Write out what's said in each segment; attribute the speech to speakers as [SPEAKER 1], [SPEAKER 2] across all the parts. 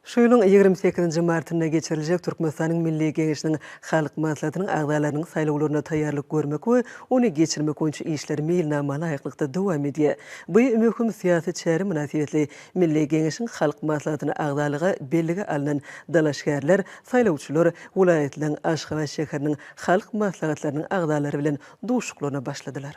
[SPEAKER 1] Şu ýylyň ýigrimi sekizinji martynda geçiriljek Türkmenistanyň Milli Geňeşiniň Halk Maslahatynyň agzalarynyň saýlawlaryna taýýarlyk görmek we ony geçirmek boýunça işler meýilnama laýyklykda dowam edýär. Bu möhüm syýasy çäre mynasybetli Milli Geňeşiň Halk Maslahatyna agzalyga bellige alnan dalaşgärler, saýlawçylar welaýatlaryň, Aşgabat şäheriniň Halk Maslahatlarynyň agzalary bilen duşuklaryna başladylar.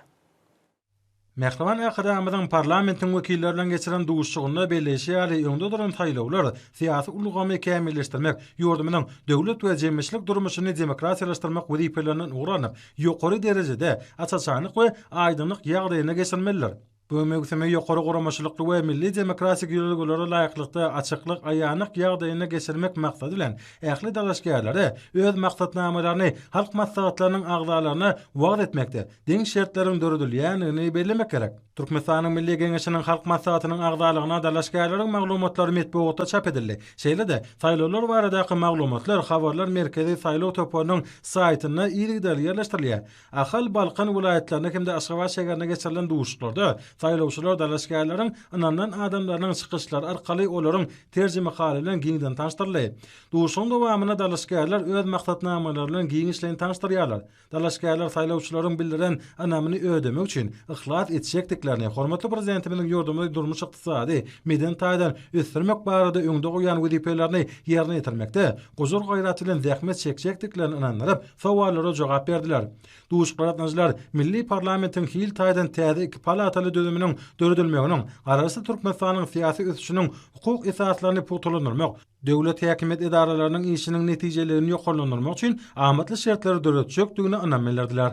[SPEAKER 2] Mähriban Arkadagymyzyň parlamentiň wekilleri bilen geçiren duşuşygynda belleýşi ýaly, öňde duran saýlawlar, syýasy ulgamy kämilleşdirmek, ýurdumyzyň döwlet we jemgyýetçilik durmuşyny demokratiýalaşdyrmak wezipelerinden ugur alnyp, ýokary derejede, aç-açanlyk we aýdyňlyk ýagdaýynda geçirilmelidir. Bu möwsümi ýokary guramaçylykly we milli demokratik ýörelgelere laýyklykda, açyklyk, aýanlyk ýagdaýynda geçirmek maksady bilen, ähli dalaşgärlere öz maksatnamalaryny Halk Maslahatlarynyň agzalaryna wagyz etmekde, deň şertleriň döredilýändigini bellemek gerek. Türkmenistanyň Milli Geňeşiniň Halk Maslahatynyň agzalygyna dalaşgärleriň maglumatlary metbugatda çap edildi. Şeýle-de, saýlawlar baradaky maglumatlar Habarlar merkezi saýlaw toparynyň saýtynda yzygiderli ýerleşdirilýär. Ahal, Balkan welaýatlarynda hem-de Aşgabat şäherinde geçirilen duşuşyklarda saýlawçylar dalaşgärleriň ynanylan adamlarynyň çykyşlary arkaly olaryň terjimehaly bilen giňden tanyşdyryldy. Duşuşygyň dowamynda dalaşgärler öz maksatnamalary bilen giňişleýin tanyşdyrýarlar. Dalaşgärler saýlawçylaryň bildiren ynamyny ödemek üçin yhlas etjekdiklerini, hormatly Prezidentimiziň ýurdumyzy durmuş-ykdysady, medeni taýdan ösdürmek barada öňde goýan wezipelerini ýerine ýetirmekde gujur-gaýrat bilen zähmet çekjekdiklerini ynandyryp, sowallara jogap berdiler. Duşgaradyjylar milli parlamentiň hil taýdan täze iki palataly düzüminiň döredilmeginiň Garaşsyz Türkmenistanyň syýasy ösüşiniň hukuk esaslaryny pugtalandyrmak, döwlet häkimiýet edaralarynyň işiniň netijeliligini ýokarlandyrmak üçin amatly şertleri döretjekdigine ynam bildirdiler.